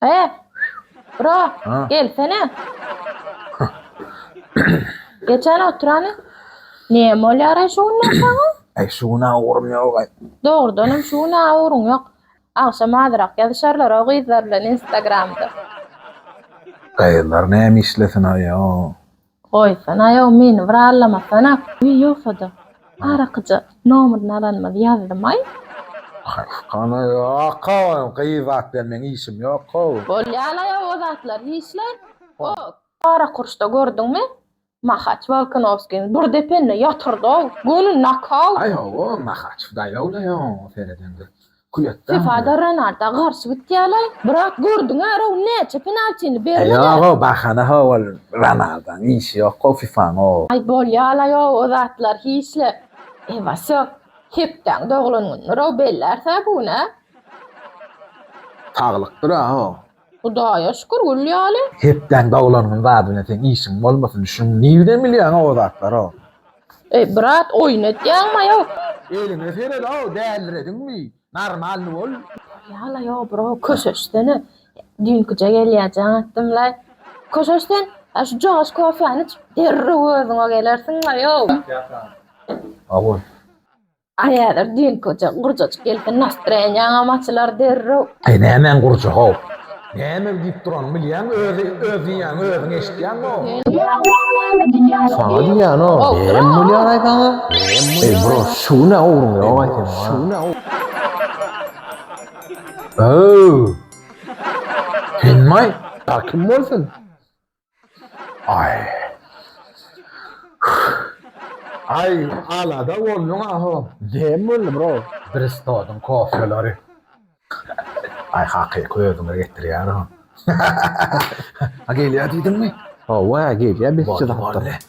He? Bro, Ha. gelsene. Geçen oturany. Ne molýar şu günler saňa? Ay şu gün ağırım yok ay. Dogrudan hem şu gün awuryň ýok. Agşam azyrak ýazyşarlar o gyzlar bilen Instagramda. Kayırlar ne işlesin ay o. Goýsana-ow, meni bir allamasana, guý ýogsa-da. Arakyja nomerini alanymyzy ýazdymaý. Hany, ýok-ow, gyz zat bilen meň işim ýok-ow. Bolýa-laý-ow o zatlar, hiç-laý. Hop! Garakurşda gördüňmi? Mahaç Wolkonowskiň bir depende ýatyrdy-ow, göni nokaut! Aý, hawa, Mahaç daýaw-laý oňa seredende. Külekden Sefa-da Renarda garşy gitýärler. Brat, gördüň-ä, Raul näçe penaltini bermedi. Ýog-ow, bahana-how ol Renardaň işi ýok-ow FIFA-ň-ow. Aý, bolýa-laý-ow o zatlar hiç-le. E, Wasýo, hepdäň doglan gününi Raul bellärs-ä bu gün-ä. Saglykdyr-a-how. Hudaýa şükür gül ýaly. Hepdäň dowlangyň zadyna seň işiň bolmasyn şuň nirden bilýäňa o zatlara. Eý brat oýun etýäňma ýok. Eliňe seredow dälirediňmi normalny bol. Ýala ýo bro köşeşsene düýnküje gelýä jaň atdym laý köşeş sen ha şu jogaş kofýany iç derrew özüňe gelersiň laý ýo. Aw bol. Aýalar düýnküje gurjajyk gelsin nastreniýaňam açylar derrew. Eý nämäň gurja how. Näme diýip duranyny bilýäňmi özi öz diýýäňi özüň eşitýäňmi. Saňa diýýänok näme bolýar aý saňa. Eý bro şu günä ugruň ýok aý seniň ha. Öööw. Senmi aý. Bar kim bolsun. Aý. Aý, alada bolduň aho. Näme boldy, bro? Bristodyň kofeleri. Aý, hakyky özüňe getirýär o. A gelýär diýdiňmi? Hawa, gelýär, biz çyzapdyk.